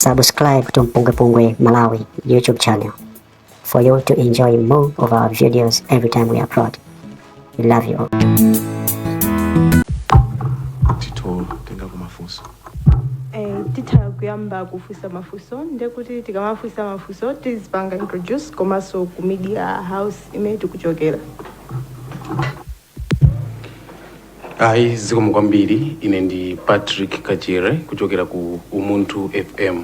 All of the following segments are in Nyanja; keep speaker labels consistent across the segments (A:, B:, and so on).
A: Subscribe to Mpungwe Pungwe Malawi YouTube channel for you to enjoy more of our videos every time we upload. We love you all.
B: titha kutenga mafunso
C: Eh, titha kuyamba kufunsa mafunso ndekuti tikamafunsa mafunso tizipanga introduce komanso ku media house imene tikuchokera
B: ayi zikomo kwambiri ine ndi patrick kachere kuchokera ku umunthu fm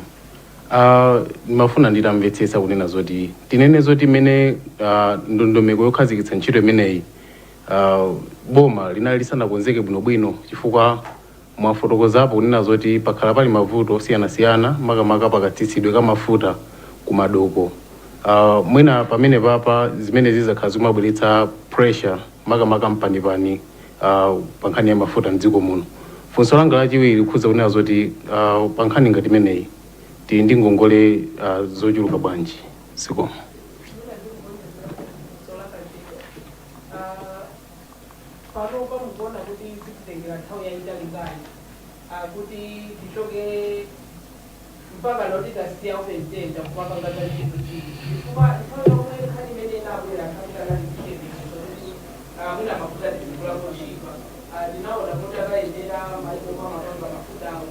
B: uh, ndimafuna nditamvetsetsa kunena zoti tinene zoti mmene uh, ndondomeko yokhazikitsa ntchito imeneyi uh, boma linali lisanakonzeke bwinobwino chifukwa Mwafotokozapo kunena zoti pakhala pali mavuto osiyanasiyana makamaka pakatsitsidwe ka mafuta ku madoko. Mwina pamenepapa zimenezi zakhala zikumabweretsa pressure makamaka mpanipani pa nkhani ya mafuta m'dziko muno. Funso langa lachiwiri likukhudza kunena zoti pa nkhani ngati imeneyi tili ndi ngongole zochuluka bwanji? Zikomo.
D: panopa mukuona kuti zititengera nthawi yayitali bwanji ah, kuti tichoke mpaka loti tasiya open tender kupanga za G to G chifukwa nthawi yomwe nkhani imene inabwera panali chiyembekezo zokuti ah, mwina mafuta tizigula otchipa tinaona kuti akayendera maiko omwe amapanga mafutawo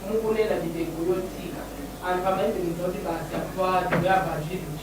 D: mukunena mitengo yotsika anthu amayembekeza kuti basi apa tiyamba G to G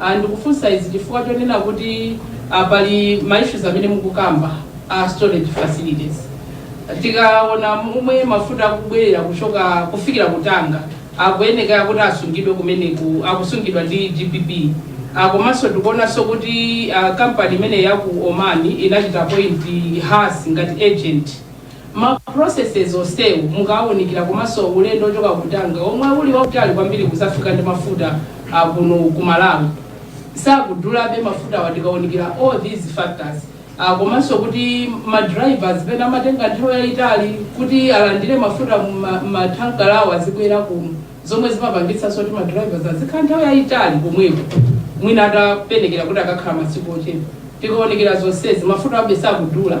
D: a Ndikufunsa izi chifukwa chonena kuti a pali ma issues amene mukukamba a storage facilities. Tikaona momwe mafuta akubwerera kuti akufikira ku Tanga, akuyenekera kuti asungidwe kumeneku, akusungidwa ndi GBP. a Komanso tikuonanso kuti a company imene ya ku Oman inachita appoint Hass ngati agent. Ma processes onsewu mukaunikira komanso ulendo ochoka ku Tanga omwe uli wautali kwambiri kuzafika ndi mafuta a kuno ku Malawi sakudulabe mafutawa tikaunikira all these factors komanso kuti ma drivers pena amatenga nthawi yayitali kuti alandire mafuta mma tanker awo azibwera kuno zomwe zimapangitsanso kuti ma drivers azikhala nthawi yayitali komweko mwina atayenekera kuti akakhala masiku ochepa tikaunikira zonsezi mafutawabe sakudula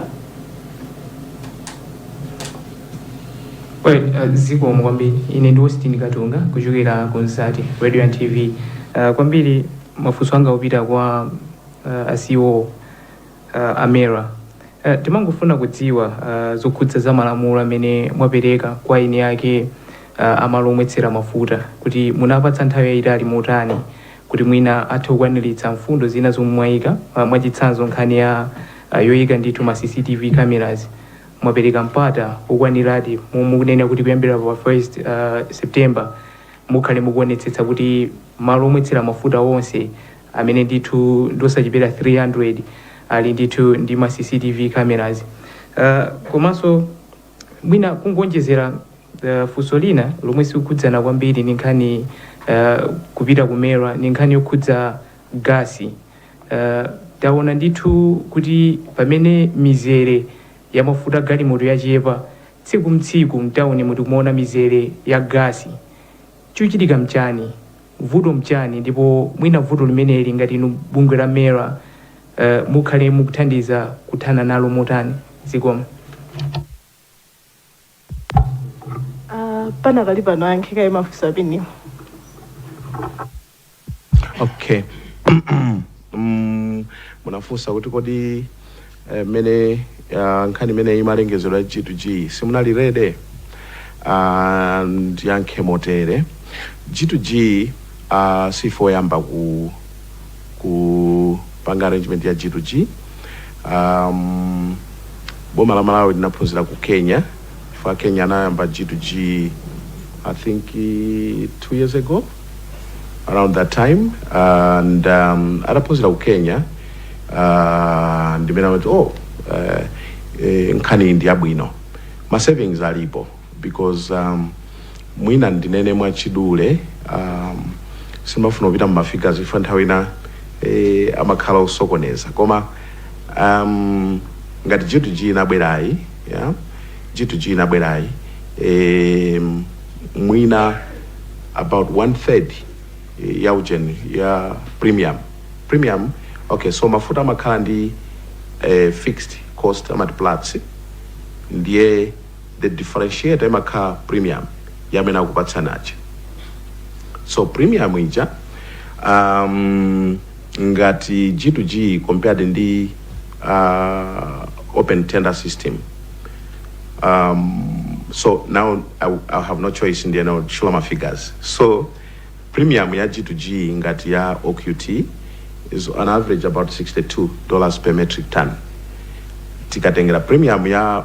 E: Well, uh, zikomo kwambiri ine ndi Austin Katunga kuchokera ku Nzati radio and TV uh, kwambiri mafunso anga akupita kwa uh, a CEO uh, a MERA uh, timangofuna kudziwa uh, zokhudza za malamulo amene mwapereka kwa eni ake uh, amalo omwetsera mafuta kuti munawapatsa nthawi yayitali motani kuti mwina athe kukwaniritsa mfundo zina zomwe mwayika uh, mwachitsanzo nkhani ya a yoika ndithu ma cctv cameras mwapereka mpata wokwaniradi momwe mukunena kuti kuyambira pa 1st September mukhale mukuonetsetsa kuti malo omwetsera mafuta onse amene ndithu ndiosachepera 300 ali ndithu ndi ma cctv cameras uh, komanso mwina kungonjezera uh, funso lina lomwe sikukhudzana kwambiri ndi nkhani uh, kupita ku MERA ndi nkhani yokhudza gasi Taona ndithu kuti pamene mizere ya mafuta galimoto yachepa tsiku mtsiku mtauni muno tikumaona mizere ya gasi. Chikuchitika mchani? Vuto mchani ndipo mwina vuto limeneli ngati inu bungwe la MERA mukhale mukuthandiza kuthana nalo motani? Zikomo.
C: Uh, panakali pano ayankhe kaye mafunso amenewo
B: okay Mm, munafunsa kuti kodi eh, mene ah, nkhani imene imalengezedwa g2g simunali ready Ah, ndiyankhe motere g2g ah, sife oyamba ku kupanga arrangement ya G to G. Um, boma la Malawi linaphunzira ku Kenya chifukwa Kenya anayamba G to G I think eh, two years ago around that time and um, adaphunzira ku Kenya uh, ndimene amati oh uh, eh, nkhaniyi ndi yabwino ma savings alipo because um, mwina ndinene mwachidule um, sindimafuna kupita mu mafigures chifukwa nthawi ina eh, amakhala osokoneza koma um, ngati g2g inabwerayi
F: yeah? g2g inabwerayi eh, mwina about one third eh, ya ujeni ya premium premium okay so mafuta amakhala ndi eh, fixed cost amati platts ndiye the differentiator imakhala premium ya amene akupatsani aja so premium ija um, ngati g to g compared ndi uh, open tender system um, so now I, I have no choice ndiye now show my figures so premium ya g to g ngati ya oqt is on average about 62 dollars per metric ton tikatengera premium ya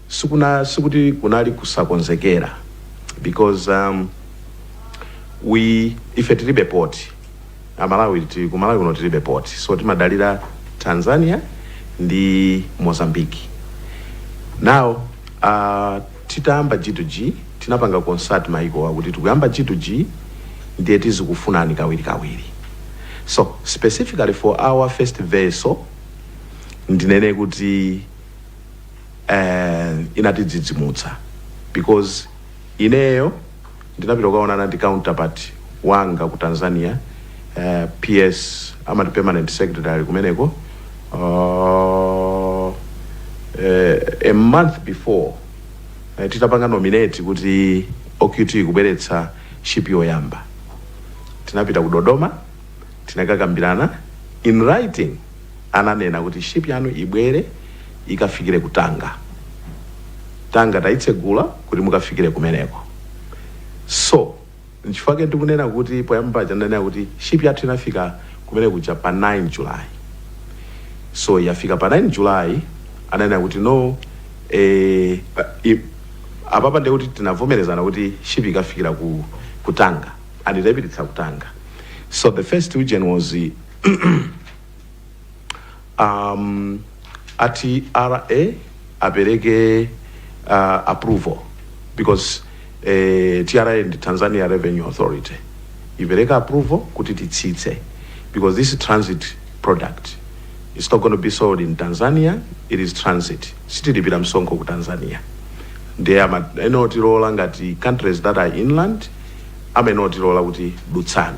F: sikuna sikuti kunali kusakonzekera because um, we ife tilibe port amalawi ti- ku malawi kuno tilibe port so timadalira tanzania ndi Mozambique now uh, titayamba g2g tinapanga consult maikowa kuti tikuyamba g2g ndiye tizikufunani kawiri kawiri so specifically for our first vessel ndinene kuti and inatidzidzimutsa because ineyo ndinapita kukaonana ndi counterpart wanga ku Tanzania uh, PS amati permanent secretary kumeneko uh, uh, a month before uh, titapanga nominate kuti OQT kubweretsa ship yoyamba tinapita ku Dodoma tinakakambirana in writing ananena kuti ship yanu ibwere ikafikire ku Tanga. Tanga tayitsegula kuti mukafikire kumeneko. So, nchifukwa chake ndikunena kuti poyamba paja ndinanena kuti ship yathu inafika kumene kuja pa 9 July. So, yafika pa 9 July, ananena kuti no, eh, i, apapa ndiye kuti tinavomerezana kuti ship ikafikira ku, ku Tanga. And tinayipititsa ku Tanga. So, the first ujeni was um, TRA apereke uh, approval because eh, tra ndi tanzania revenue authority ipereka approval kuti titsitse because this is transit product it's not going to be sold in tanzania it is transit sitilipira msonkho ku tanzania ndiye ama- amayenera kutilola ngati countries that are inland amayenera kutilola kuti dutsani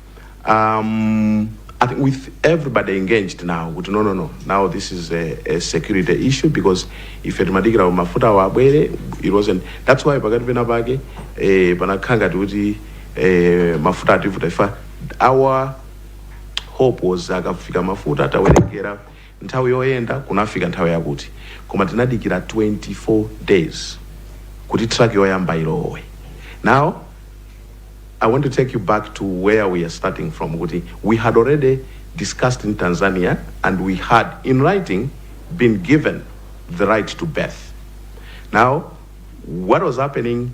F: um, I think with everybody engaged now kuti no no no now this is a, a security issue because ife timadikira mafuta awo abwere it wasn't that's why pakati pena pake eh, panakhala ngati kuti eh, mafuta ativuta ife our hope was akafika mafuta tawerengera Nthawi yoyenda kunafika nthawi yakuti koma tinadikila 24 days kuti truck yoyamba ilowe. Now I want to take you back to where we are starting from kuti we had already discussed in Tanzania and we had in writing been given the right to birth. Now what was happening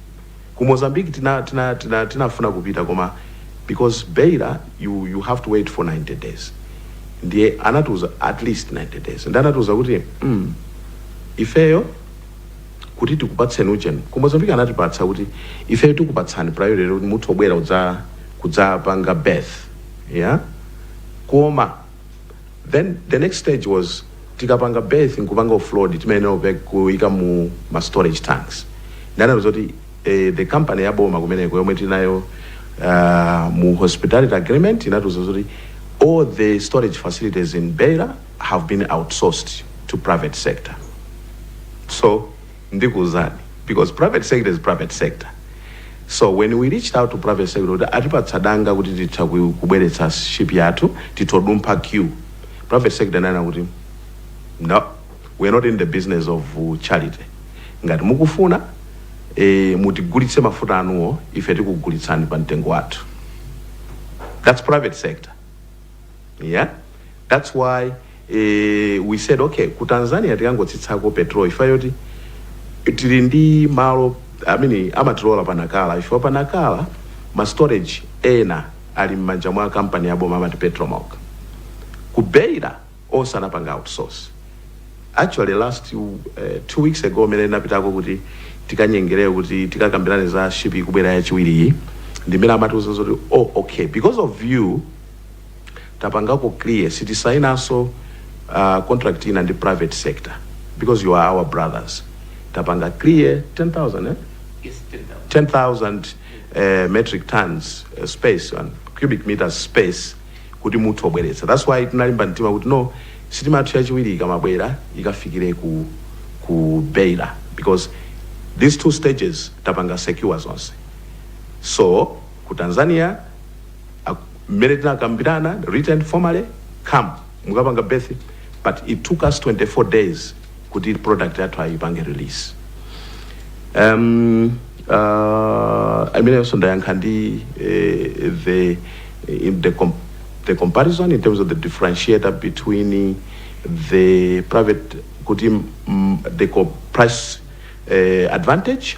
F: Ku Mozambique tina tina tina tinafuna kupita koma because beira you you have to wait for 90 days. Ndiye anatiuza at least 90 days. Ndiye anatiuza kuti mm, ifeyo kuti tikupatseni ujeni ku Mozambique anatipatsa kuti ifeyo tikupatsani priority kuti muthe kubwera udza kudzapanga berth yeah koma Then the next stage was tikapanga berth nkupanga offload timayenera kupek kuika mu ma storage tanks ndiye anatiuza kuti eh, the company ya boma kumeneko yomwe tinayo uh, mu hospitality agreement inatiuza kuti all the storage facilities in Beira have been outsourced to private sector so ndikuuzani because private sector is private sector so when we reached out to private sector kuti atipatsa danga kuti titha ku- kubweretsa ship yathu titha kudumpha queue private sector inanena kuti no we are not in the business of uh, charity ngati mukufuna eh, mutigulitse mafuta anuwo ife tikugulitsani pa mtengo wathu that's private sector Yeah, that's why eh, we said okay ku Tanzania tikangotsitsako petrol chifukwa choti tili ndi malo amene amatilola pa Nacala chifukwa pa Nacala ma storage ena ali m'manja mwa kampani ya boma amati Petromoc ku beira onse anapanga outsource actually last uh, two weeks ago mene napitako kuti tikanyengerere kuti tikakambirane za ship ikubwera yachiwiriyi ndimene amatiuza zoti oh okay because of you tapangako clear sitisainanso uh, contract ina ndi private sector because you are our brothers tapanga clear 10000 eh? Yes, 10,000 uh, metric tons uh, space and cubic meters space kuti muthe kubweretsa that's why tinalimba mtima kuti no sitima yathu yachiwiri ikamabwera ikafikire ku, ku beira because these two stages tapanga secure zonse so ku tanzania Ak, mmene tinakambirana written formally come mukapange berth but it took us 24 days kuti product yathu ayipange release um, uh, imeneyonso ndayankha ndi eh, the, in the, com the comparison in terms of the differentiator between the private kuti mm, the co- price eh, advantage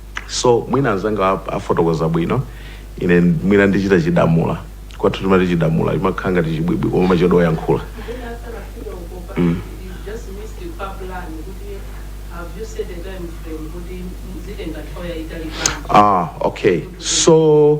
F: So mwina anzanga a- afotokoza bwino ine mwina ndichita chidamula kwathu timati chidamula chimakhala ngati chibwibwi koma machodo oyankhula ah okay so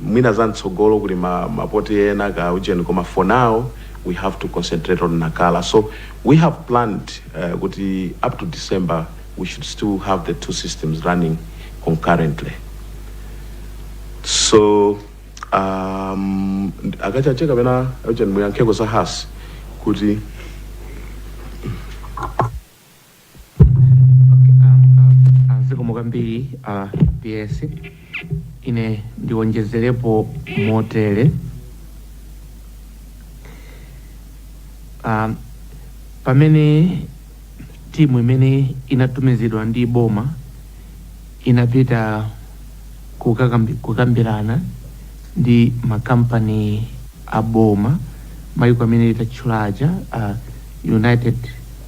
F: mwina za mtsogolo kuli ma ma poti ena ka ujeni koma for now we have to concentrate on Nacala so we have planned kuti up to December we should still have the two systems running concurrently so um, a Kachaje kapena ujeni muyankheko za has kuti
E: zikomo kwambiri a ps
G: ine ndiwonjezerepo motere um, pamene timu imene inatumizidwa ndi boma inapita kukakambi- kukambirana ndi makampani a boma maiko amene itatchula aja uh, united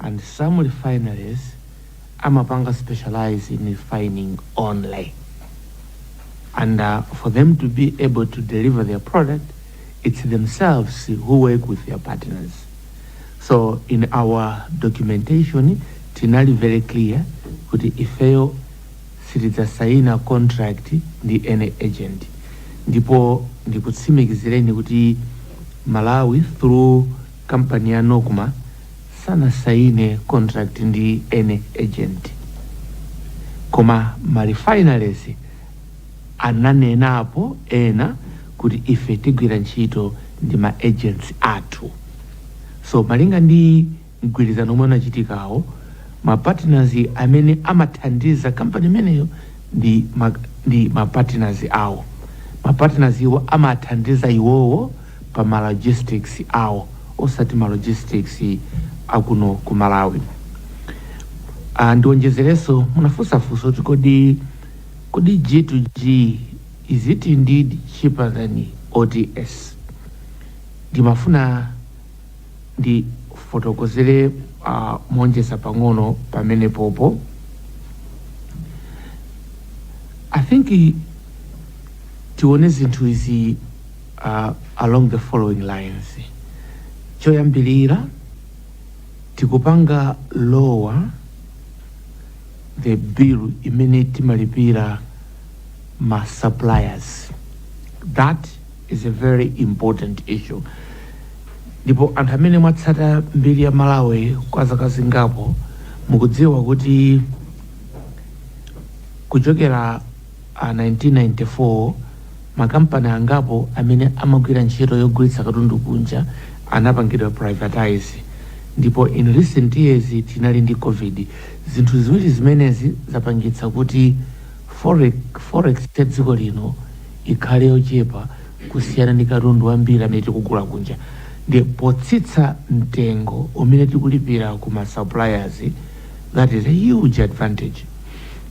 G: and some refineries amapanga specialize in refining only and uh, for them to be able to deliver their product it's themselves who work with their partners so in our documentation tinali very clear kuti ifeyo sitidzasaina contract ndi any agent ndipo ndikutsimikizireni kuti malawi through Kampani ya Nocma sanasaine contract ndi any agent koma ma refineries ananenapo ena kuti ife tigwira ntchito ndi ma agents athu so malinga ndi mgwirizano omwe unachitikawo ma partners amene amathandiza kampani imeneyo ndi ma partners awo ma partners iwo amathandiza iwowo pa ma logistics awo osati ma logistics akuno ku Malawi. Ah, ndionjezerenso munafunsa funso kuti kodi kodi G to G is it indeed cheaper than OTS? Ndimafuna ndifotokozere ah, moonjeza pang'ono pamenepopo. I think tione zinthu izi a along the following lines, Choyambilira tikupanga lower the bill imene timalipira ma suppliers that is a very important issue ndipo anthu amene mwatsata mbiri ya Malawi kwa zaka zingapo mukudziwa kuti kuchokera a 1994, makampani angapo amene amagwira ntchito yogulitsa katundu kunja anapangidwa privatise, ndipo in recent years tinali ndi Covid, zinthu ziwiri zimenezi zapangitsa kuti forex ya dziko lino ikhale yochepa kusiyana ndi katundu wambiri amene tikugula kunja, ndiye potsitsa mtengo umene tikulipira ku ma suppliers that is a huge advantage.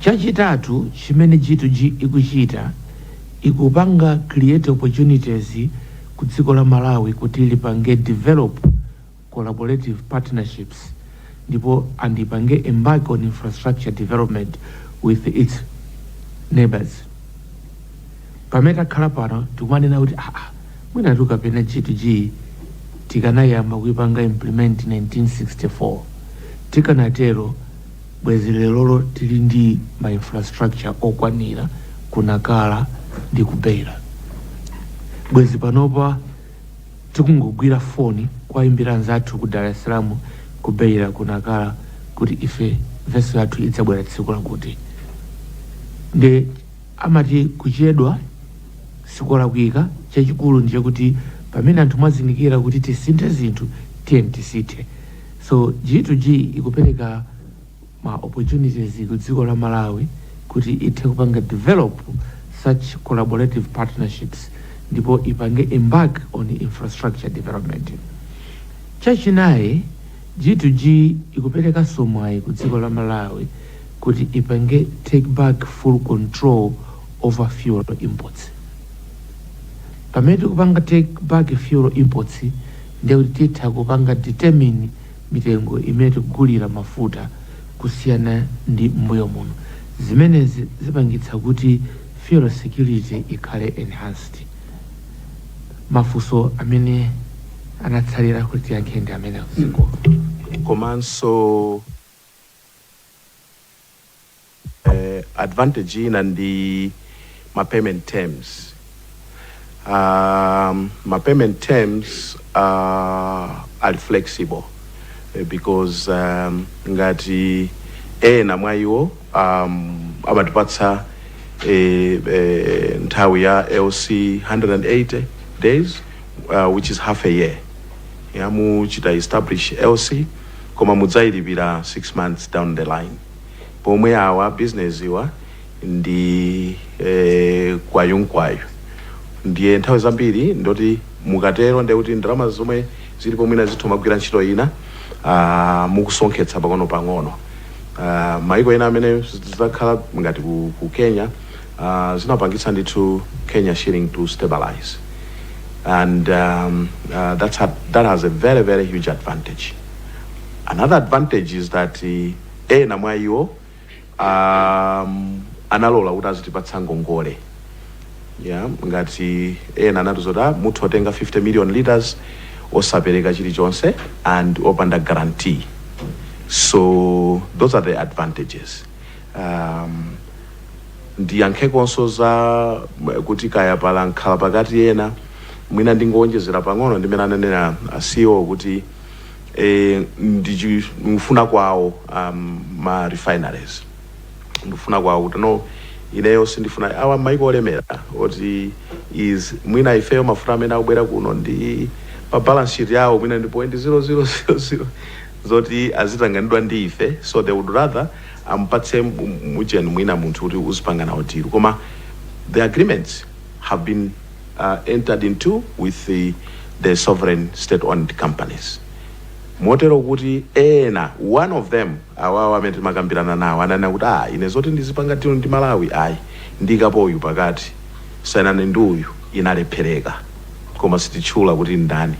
G: Chachitatu chimene G2G ikuchita ikupanga create opportunities ku dziko la Malawi kuti lipange develop collaborative partnerships ndipo and ipange embark on infrastructure development with its neighbours. Pamene takhala pano tikumanena kuti aah mwinatu kapena G2G tikanayiyamba kuyipanga implement 1964 tikanatero, Bwezi lerolo tili ndi ma infrastructure okwanira ku Nacala ndi ku Beira. Bwezi panopa tikungogwira foni kuwaimbira anzathu ku Dar es Salaam, ku Beira, ku Nacala kuti ife vessel yathu idzabwera tsiku lakuti. Nde amati kuchedwa sikolakwika, chachikulu ndi chakuti pamene anthu mwazindikira kuti tisinthe zinthu tiyeni tisinthe. So G2G ikupereka ma opportunities ku dziko la Malawi kuti ithe kupanga develop such collaborative partnerships ndipo ipange embark on infrastructure development. Chachinayi, G2G ikuperekanso mwayi ku dziko la Malawi kuti ipange take back full control over fuel imports. Pamene tikupanga take back fuel imports, Ndiye kuti titha kupanga determine mitengo imene tikugulira mafuta kusiyana ndi m'mbuyo muno. Zimenezi zipangitsa kuti fuel security ikhale enhanced. Mafunso amene anatsalira kuti tiyankhe ndi amenewo. Zikomo. Komanso.
F: advantage ina ndi ma payment terms um, ma payment terms uh, ali flexible eh, because um, ngati ena mwa iwo um, amatipatsa eh, eh, nthawi ya lc 180 days uh, which is half a year ya, muchita establish lc koma mudzayilipira 6 months down the line pomwe awa bizineziwa ndi e, kwayunkwayu ndiye nthawi zambiri ndoti mukatero ndiye kuti ndalama zomwe zilipo mwina zitha kumagwira ntchito ina ah, mukusonkhetsa pang'ono pang'ono Ah, maiko ena amene zidakhala ngati ku, ku kenya ah, zinapangitsa ndithu kenya shilling to stabilize and um, uh, that's a, that has a very very huge advantage another advantage is that uh, Ena mwa iwo a analola kuti azitipatsa ngongole ngati ena anatiuza kuti ah, mutha kutenga 50 million litres osapereka chilichonse and opanda guarantee so those are the advantages um, ndiyankhekonso za m- kuti kaya pali mkhalapakati ena mwina ndingowonjezera pang'ono m'mene ananena ah, ceo kuti eh, ndi chi- ndi kufuna kwawo um, ma refineries ndi kufuna kwawo kuti no ineyo sindifuna awa maiko olemera oti is mwina ifeyo mafuta amene akubwera kuno ndi pa balance sheet yawo mwina ndi point 0000 zoti azitanganidwa ndi ife so they would rather ampatse mu- mujeni mwina munthu kuti uzipanga nawo deal koma the agreements have been uh, entered into with the, the sovereign state-owned companies motero kuti ena one of them awawa amene timakambirana nawo ananena kuti ah ine zoti ndizipanga tino ndi malawi ayi ndikapo uyu pakati sainani ndi uyu inalephereka koma sititchula kuti ndani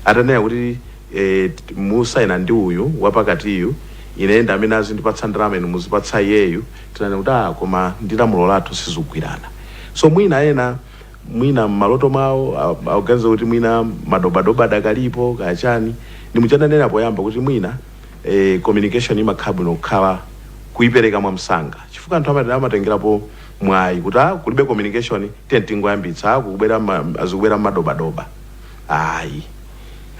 F: atanena kuti eh, t- musaine ndi uyu wapakatiyu iye ndi amene azindipatsa ndalama inu muzipatsa iyeyu Tinanena kuti ah koma ndi lamulo lathu sizikugwirana so mwina ena mwina mmaloto mwawo akuganiza kuti mwina madobadoba adakalipo kaya chani ndimchandanena poyamba kuti mwina eh, communication imakhala bwino kukhala kuipereka mwamsanga chifukwa anthu amati amatengerapo mwayi kuti ah kulibe communication tiye tingoyambitsa ah kukubwera ma- azikubwera madobadoba ayi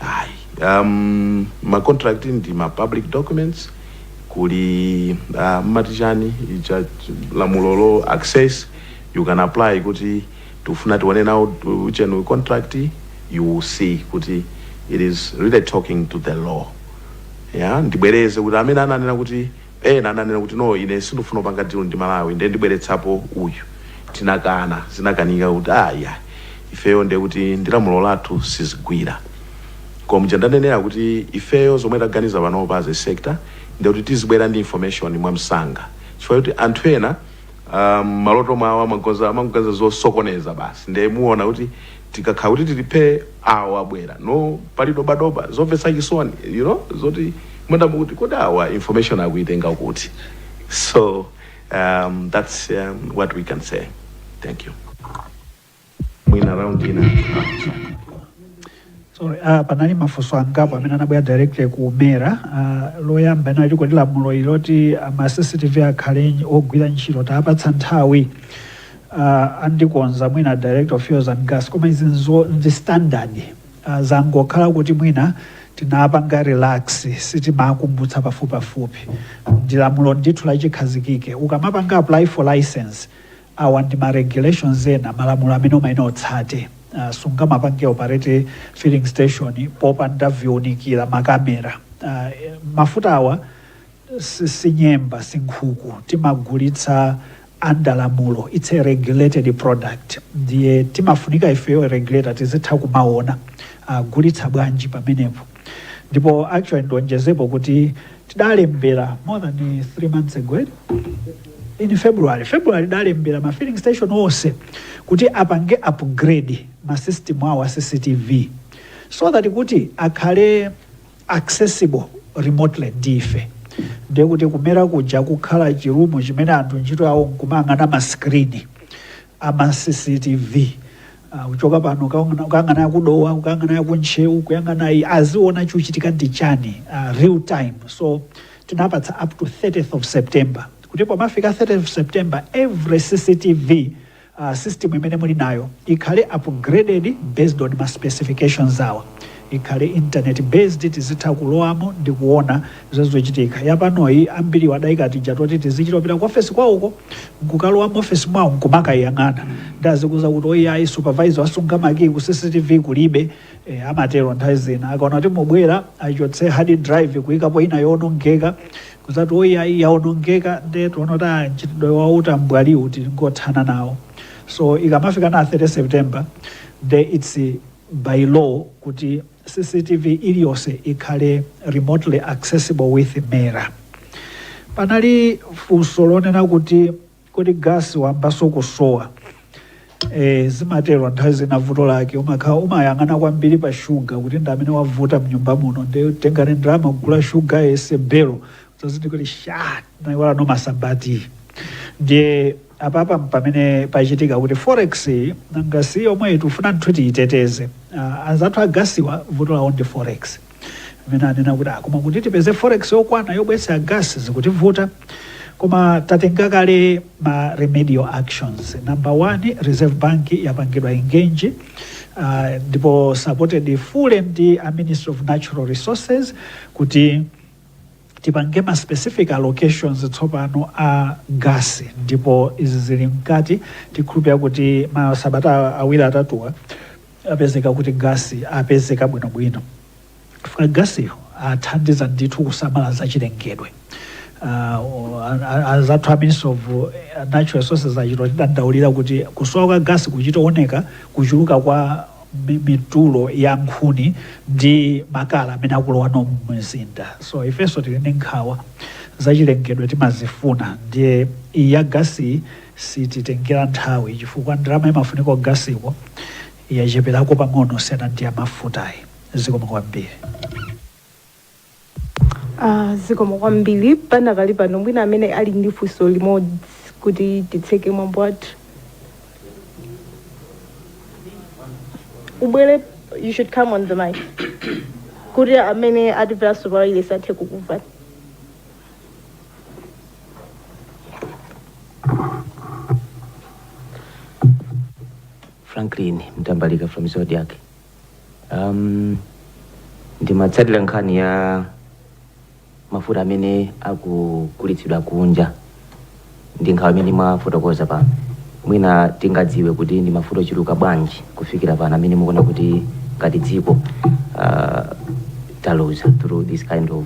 F: ayi um, ma contract ndi ma public documents kuli uh, mmati chani icha ch- lamulo lo access you can apply kuti tifuna tione nawo chenu contract you will see kuti it is really talking to the law yeah ndibwereze kuti amene ananena kuti Ena ananena kuti no ine sindifuna kupanga deal ndi Malawi nde ndibweretsapo uyu tinakana zinakanika kuti aah iyayi ifeyo nde kuti ndi lamulo lathu sizigwira koma muja ndanenera kuti ifeyo zomwe taganiza panopa as a sector ndiye kuti tizibwera ndi information mwamsanga chifukwa choti anthu ena aah mmaloto mwawo amagoza amangoganiza zosokoneza basi nde muona kuti tikakhala kuti tili phee awo abwera no pali doba doba zomvetsa chisoni you know zoti mwina mukuti kodi awa information akuitenga kuti so um, that's um, what we can say thank you mwina round
H: ina Sorry, ah, panali mafunso angapo amene anabwera directly ku mera ah, loyamba inali koli lamulo iloti ama cctv akhale nyi- ogwira ntchito tapatsa nthawi uh, andikonza mwina director of fuels and gas koma izizo ndi standard uh, zangokhala kuti mwina tinapanga relax sitimakumbutsa pafupipafupi ndi lamulo ndithu lachikhazikike ukamapanga apply for license awa ndi ma regulations ena malamulo amene umayenera utsate uh, sungamapange operate filling station popanda viunikira makamera uh, mafuta awa si- sinyemba sinkhuku timagulitsa under lamulo its a regulated product ndiye timafunika ifeyo regulator tizitha kumaona agulitsa uh, bwanji pamenepo ndipo actually ndionjezepo kuti tidalembera more than 3 months ago eh? in february february tidalembera ma filling station onse kuti apange upgrade ma system awo a cctv so that kuti akhale accessible remotely ndi ife ndi kuti ku MERA kuja kukhala chirumu chimene anthu ntchito yawo nkumayang'ana masikrini ama cctv ah, kuchoka pano ukaona- ukayang'ana ya ku Dowa ukayang'ana ya ku Ntcheu kuyang'ana iyi aziona chikuchitika ndi chani ah, real time so tinapatsa up to 30th of september kuti pomafika 30th of september every cctv system imene muli nayo ikhale upgraded based on ma specifications awa ikhale internet based tizitha kulowamo ndi kuona zochitika yapanoyi ambiriwo adayika tija toti tizichito pita ku ofesi kwawoko nkukalowa mu ofesi mwawo nkumakayang'ana ndi azikuuza kuti oyayi supervisor wasunga makiyi ku cctv kulibe E, amatero nthawi zina akaona kuti mubwera achotse hard drive kuyikapo ina yowonongeka kudzati oyi ayi yawonongeka nde tuona kuti ah, mchitidwe wa utambwali tingothana nawo so ikamafika na 30 september nde its by law kuti cctv iliyonse ikhale remotely accessible with MERA panali funso lonena kuti Kodi gas wambaso kusowa? Eeh zimatero nthawi zina vuto lake umakhala umayang'ana kwambili pa sugar kuti ndi amene wavuta mnyumba muno nde tengani ndalama kugula sugar yense bello mudzazindikire kuti shaa tinaiwala nso masamba tea ndiye apapa mpamene pachitika kuti forex iyi nanga si yomweyi tikufuna ndithu tiyiteteze Ah, anzathu a gasiwa vuto lawo ndi forex Amene anena kuti koma kuti tipeze forex yokwana yobweretsa gas zikutivuta koma tatenga kale ma remedial actions number one reserve bank yapangidwa engage uh, ndipo supported fully ndi a ministry of natural resources kuti tipange ma specific allocations tsopano a gas ndipo izi zili mkati tikhulupira kuti masabata awiri atatuwa Apezeka kuti gasi apezeka bwinobwino chifukwa gasiyo athandiza ndithu kusamala za chilengedwe uh, anzathu a ministry of natural resources achito tidandaulira kuti kusowa kwa gasi kuchitooneka kuchuluka kwa mitulo ya nkhuni ndi makala amene akulowano mumzinda so ifenso tili ndi nkhawa zachilengedwe timazifuna ndiye iyi ya gasi Sititengera nthawi chifukwa ndalama imafunika kugasiko yachepelako pang'ono kusiyana ndi yamafutayi. Zikomo kwambiri.
C: Aaa zikomo kwambiri panakali pano mwina amene ali ndi funso limodzi kuti titseke mwambo wathu. Ubwere you should come on the mic kuti amene atimveraso pawayilesi athe kukumvani.
I: franklin mtambalika from zodiac um, ndimatsatira nkhani ya mafuta amene akugulitsidwa kunja ndi nkhawa imene mwafotokoza pano mwina tingadziwe kuti ndi mafuta ochuluka bwanji kufikira pano amene mukuona kuti ngati dziko uh, taluza through this kind of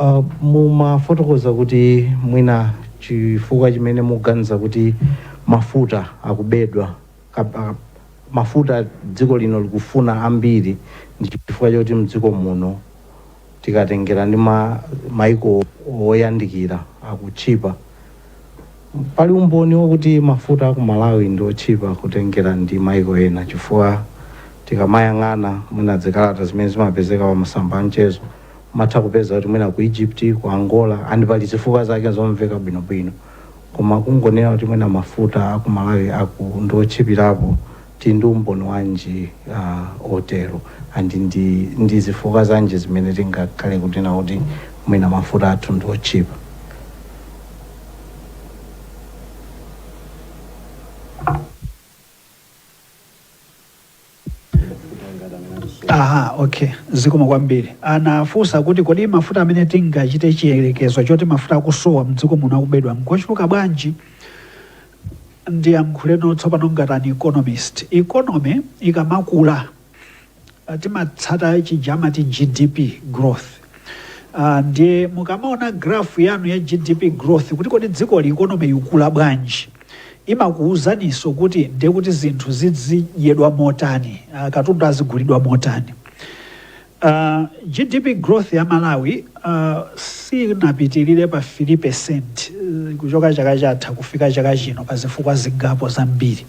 J: Uh, mumafotokoza kuti mwina chifukwa chimene muganiza kuti mafuta akubedwa kape, mafuta dziko lino likufuna ambiri ndi chifukwa choti mdziko muno tikatengera ndi ma, maiko oyandikira akutchipa pali umboni wokuti mafuta aku malawi ndi otchipa kutengera ndi maiko ena chifukwa tikamayang'ana mwina zikalata zimene zimapezeka pa masamba a mchezo Umatha kupeza kuti mwina ku Egypt, ku Angola and pali zifukwa zake zomveka bwino bwino koma kungonena kuti mwina mafuta aku Malawi aku ndi otchipirapo tili ndi umboni wanji uh, otero and ndi, ndi zifukwa zanji zimene tingakhale kunena kuti mwina mafuta athu ndi otchipa?
H: Aha, okay. Zikomo kwambiri. Anafunsa kuti kodi mafuta amene tingachite chiyerekezo choti mafuta akusowa mdziko muno akubedwa ngochuluka bwanji? Ndiyankhuleno tsopano ngati an economist. Economy ikamakula ah, timatsata chija amati GDP growth. Uh, ndiye mukamaona graph yanu ya GDP growth kuti kodi dzikoli economy ikula bwanji? imakuuzaninso kuti ndiye kuti zinthu zizidyedwa motani, uh, katundu azigulidwa motani. Uh, GDP growth ya Malawi uh, sinapitirire pa 3% uh, kuchoka chaka chatha kufika chaka chino pa zifukwa zingapo zambiri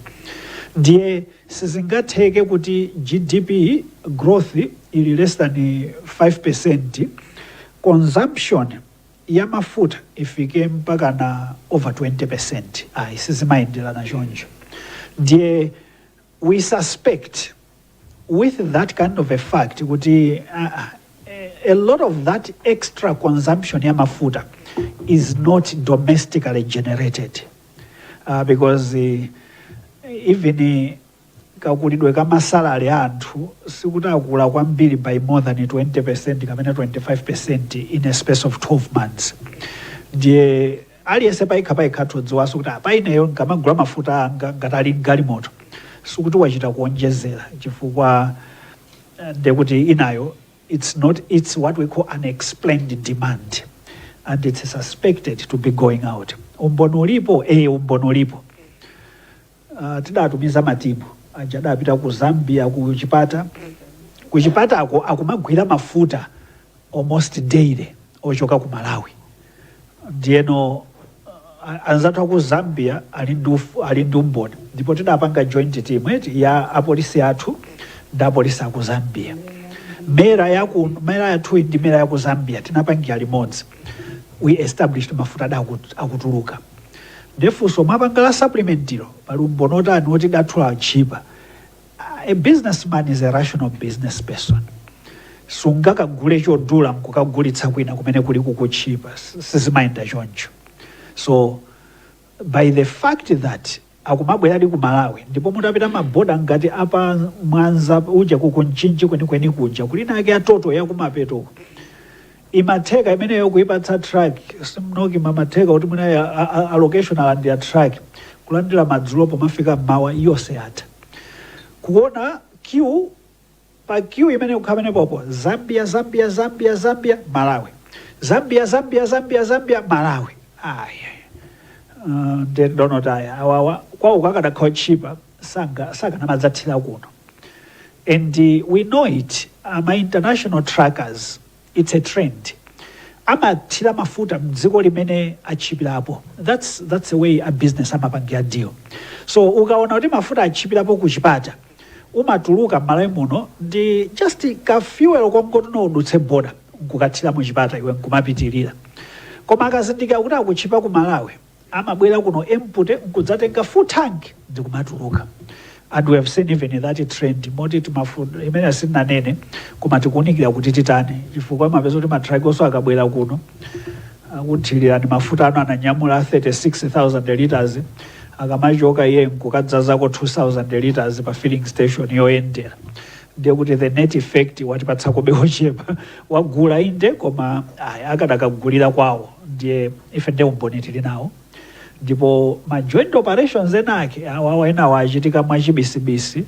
H: ndiye sizingatheke kuti GDP growth ili less than 5% consumption ya mafuta ifike mpakana over 20% ayi sizimayendelana choncho ndiye we suspect with that kind of a fact kuti uh, a lot of that extra consumption ya mafuta is not domestically generated uh, because uh, even uh, kakulidwe ka ma salary a anthu sikuti akula kwambiri by more than 20% kapena 25% in a space of 12 months ndiye aliyense payekha payekha todziwanso kuti apa ineyo nkamagula mafuta anga ngati ali n'galimoto sikuti wachita kuonjezera chifukwa eh, ndekuti inayo it's not it's what we call unexplained demand and it's suspected to be going out umboni ulipo eh umboni ulipo Tidatumiza matimu aja adapita ku Zambia ku Chipata. Ku Chipatako akumagwira mafuta almost daily ochoka ku Malawi. Ndiyeno anzathu a ku Zambia ali ndi uf- ali ndi umboni ndipo tidapanga joint team eti ya apolisi athu ndi apolisi a ku Zambia. MERA ya ku MERA yathu ndi MERA ya ku Zambia tinapangira limodzi. We established mafuta ada akut- akutuluka. Nde funso mwapanga la supplementary lo pali umboni wotani woti lathu latchipa? A business man is a rational business person. Sungakagule chodula nkukagulitsa kwina kumene kuli kukutchipa. Sizimayenda choncho. So by the fact that akumabweradi ku Malawi ndipo mutapita ma border ngati a pa Mwanza uja ku ku Mchinji kwenikweni kuja kuli inayake ya Total yakumapeto uku. imatheka imeneyo kuipatsa truck simnoki zimatheka kuti mwina ya- a- a- allocation alandira truck kulandira madzulo pomafika mmawa yonse yatha kuona queue pa queue imene ikukhala pamenepopo Zambia Zambia Zambia Zambia Malawi Zambia Zambia Zambia Zambia Malawi ayi uh, nde ndionotu awawa kwawoko akadakhala otchipa sanga sakanamadzathira kuno and uh, we know it uh, ma international truckers It's a trend. Amathira mafuta mdziko limene atchipirapo. That's that's the way a business amapangira deal. So ukaona kuti mafuta atchipirapo ku Chipata umatuluka m'Malawi muno ndi just ka fuel kongoti udutse border nkukathira mu Chipata iwe nkumapitirira. Koma akazindikira kuti akutchipa ku Malawi amabwera kuno empty nkudzatenga full tank ndikumatuluka and we have seen even that trend moti ndi mfundo imene sitinanene koma tikuunikira kuti titani chifukwa mupeza kuti matrakiwonso akabwera kuno akuthirira ndi mafuta ano ananyamula 36000 liters akamachoka iye nkukadzazako 2000 liters pa filling station yoyendera ndiye kuti the net effect watipatsakobe wochepa wagula inde koma ayi akadakagulira kwawo ndiye Ife nde umboni tili nawo ndipo ma joint operations ena ake awawa enawo achitika mwachibisibisi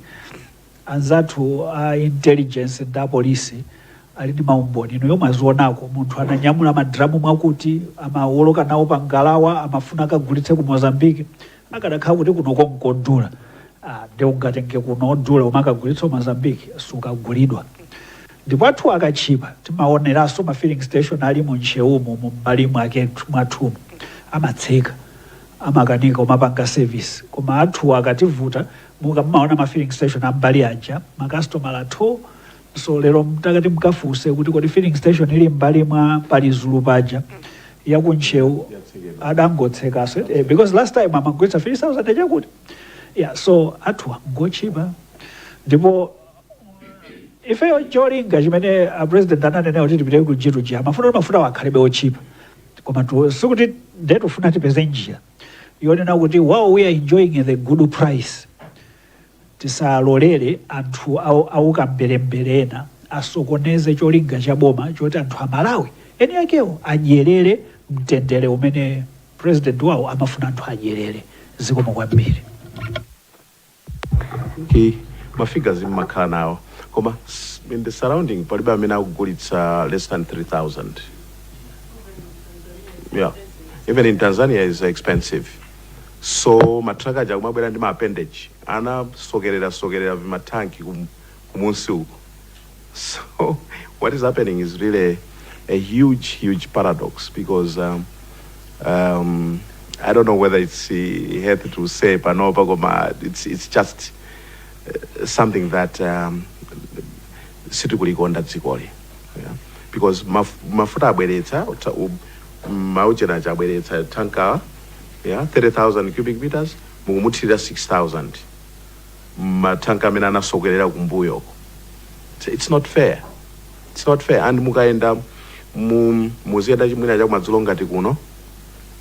H: anzathu a intelligence ndi a polisi ali ndi maumboni inuyo mwazionako, munthu ananyamula ma drum mwakuti amawoloka nawo pa ngalawa amafuna akagulitse ku Mozambique akadakhala kuti kunoko nkodula ah, nde ungatenge kuno odula umakagulitsa ku Mozambique sukagulidwa Ndipo athuwa katchipa timaoneranso ma filling station ali mu Ntcheumu umu m'mbali mwake mwathumu amatseka amakanika kumapanga service koma athuwa akativuta mukamaona ma filling station am'mbali aja ma kastomala thoo! So lero mutati mukafufuze kuti kodi filling station ili m'mbali mwa Palizulu paja ya ku Ntcheu adangotsekanso eti eh, because last time amagulitsa 3000 chakuti yeah, so athuwa ngotchipa ndipo ifeyo cholinga chimene a president ananena kuti tipite ku G to G ija mafuta kuti mafutawo akhalebe otchipa koma tu- sikuti nde tufuna tipeze njira yonena kuti while we are enjoying the good price tisalolere anthu au- auka mberembere ena asokoneze cholinga cha boma choti anthu amalawi eni akewo adyerere mtendere umene president wawo amafuna anthu adyerere zikomo kwambiri
F: He ma figures mmakhala nawo koma in the surrounding palibe amene akugulitsa less than 3000 yeah even in Tanzania is expensive so matraka aja akumabwera ndi ma appendage anasokerera sokerera vimatanki kum, kumunsi uko So what is happening is really a huge, huge paradox because um, um, I don't know whether it's uh, healthy to say panopa, koma it's, it's just uh, something that um, sitikulikonda dzikoli yeah? because maf mafuta abweretsa uta- u- mauchena aja abweretsa tankawa yeah? 30000 cubic meters mukumuthirira 6000 ma tank amene anasokelera kumbuyo uko It's- it's not fair it's not fair and mukayenda mu muziyenda chimwina chakumadzulo ngati kuno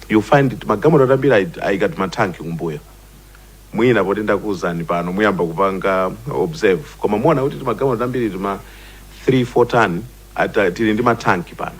F: you find timagalimoto tambiri taikatu matanki kumbuyo mwina poti ndakuwuzani pano muyamba kupanga observe koma muona kuti timagalimoto tambiri tima 3 4 ton ata tili ndi matanki pano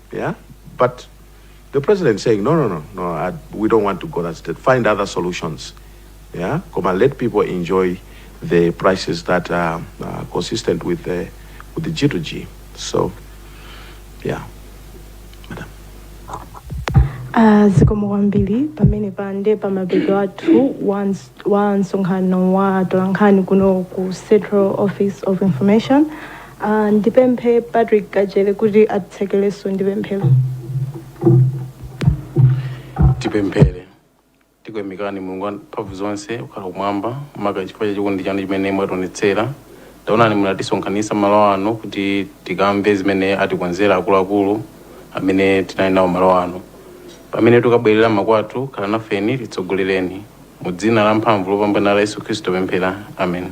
F: Yeah? But the president is saying, no, no, no, no, I, we don't want to go that state. Find other solutions. Yeah? Come and let people enjoy the prices that are, are consistent with the, with the G2G. So, yeah. Ah,
C: zikomo kwambiri pamene pande pamapeto athu wa ns- wa msonkhano wa atolankhani kuno ku central office of information Uh, ndipemphe patrick kajere kuti atitsekelenso ndi
B: pemphero tipemphere tikuyamikani mulungu wa mphamvu zonse wokhala kumwamba maka chifukwa cha chikondi chanu chimene mwationetsera taonani munatisonkhanitsa malo ano kuti tikamve zimene atikonzera akuluakulu amene tinali nawo malo ano pamene tikubwerera makwathu khalani nafeni titsogolereni mu dzina la mphamvu lopambana la yesu khristu pemphera amen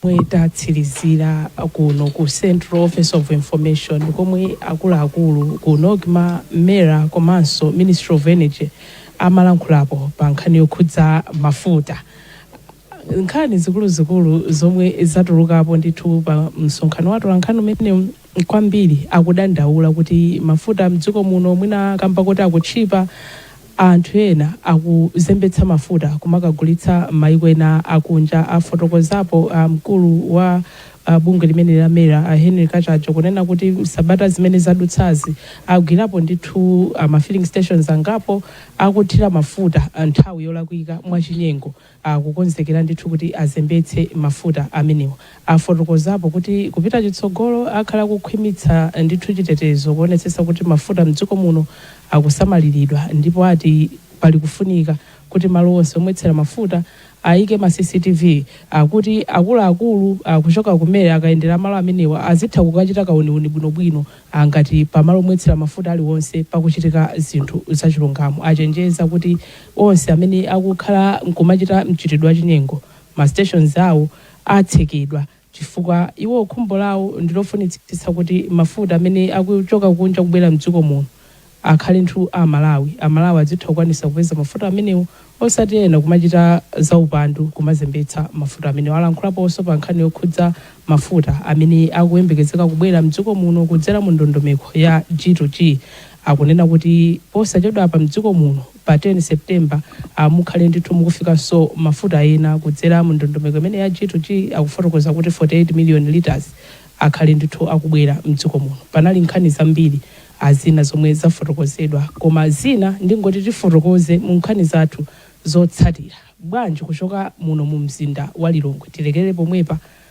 K: Pomwe tatsilizira kuno ku Central Office of Information komwe akuluakulu ku Nocma, Mera komanso Ministry of Energy amalankhulapo pa nkhani yokhudza mafuta. Nkhani zikuluzikulu zomwe zatulukapo ndithu pa msonkhano wa atolankhani umenewu kwambiri akudandaula kuti mafuta mdziko muno mwina kamba koti akutchipa, Anthu ena akuzembetsa mafuta kumakagulitsa m'mayiko ena akunja, afotokozapo mkulu wa bungwe limeneli la MERA Henry Kachaje kunena kuti m'sabata zimene zadutsazi agwirapo ndithu a ma filling stations angapo akuthira mafuta nthawi yolakwika mwachinyengo. akukonzekera ndithu kuti azembetse mafuta amenewa. Afotokozapo kuti kupita chitsogolo akhala akukhwimitsa ndithu chitetezo kuonetsetsa kuti mafuta mdziko muno akusamaliridwa ndipo ati pali kufunika kuti malo onse omwetsera mafuta ayike ma CCTV kuti akuluakulu kuchoka ku MERA akayendera malo amenewa azitha kukachita kauniuni bwinobwino ngati pamalo omwetsera mafuta aliwonse pakuchitika zinthu zachilungamo. Achenjeza kuti. Onse amene akukhala nkumachita mchitidwe wa chinyengo ma stations awo atsekedwa chifukwa iwo khumbo lawo ndilofunitsitsa kuti mafuta amene akuchoka kunja kubwera mdziko muno akhale ndithu a amalawi, amalawi adzitha kukwanisa kupeza mafuta amenewo osati ena kumachita zaupandu kumazembetsa mafuta amenewo. Alankhulaponso pa nkhani yokhudza mafuta amene akuyembekezeka kubwera mdziko muno kudzera mu ndondomeko ya G to G. akunena kuti posachedwapa mdziko muno pa 10 September a mukhale ndithu mukufikanso mafuta ena kudzera mu ndondomeko imeneyi ya G-2-G akufotokoza kuti 48 million litres akhale ndithu akubwera mdziko muno. Panali nkhani zambiri a zina zomwe zafotokozedwa koma zina ndingoti tifotokoze mu nkhani zathu zotsatira. Bwanji kuchoka muno mu mzinda wa Lilongwe tilekere pomwepa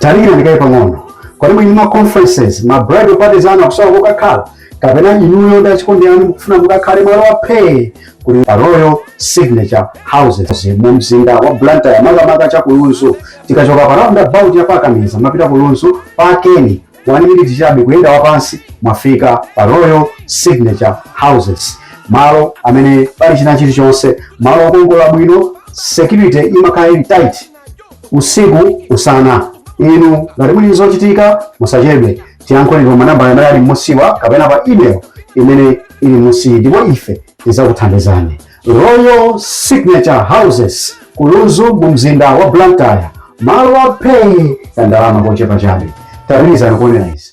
L: tadikirani kaye pang'ono kodi muli ndi ma conferences ma bridal parties anu akusowa kokakhala kapena inuyo ndi achikondi anu mukufuna mukakhale malo aphee kuli pa royal signature houses mu mzinda wa blantyre makamaka cha kulunzu tikachoka pa roundabout ya pa kameza mapita kulunzu pakeni one minute chabe kuyenda wapansi mwafika pa royal signature houses malo amene pali china chilichonse malo okongola bwino security imakhala ili tight usiku usana inu ngati muli zochitika musachedwe tiyankhuleni pa manambala amene ali m'musiwa kapena pa email imene ili m'musi ndipo ife tidzakuthandizani royal signature houses kulunzu mu mzinda wa blantyre malo aphee ya ndalama zochepa chabe pitirizani kuonera izi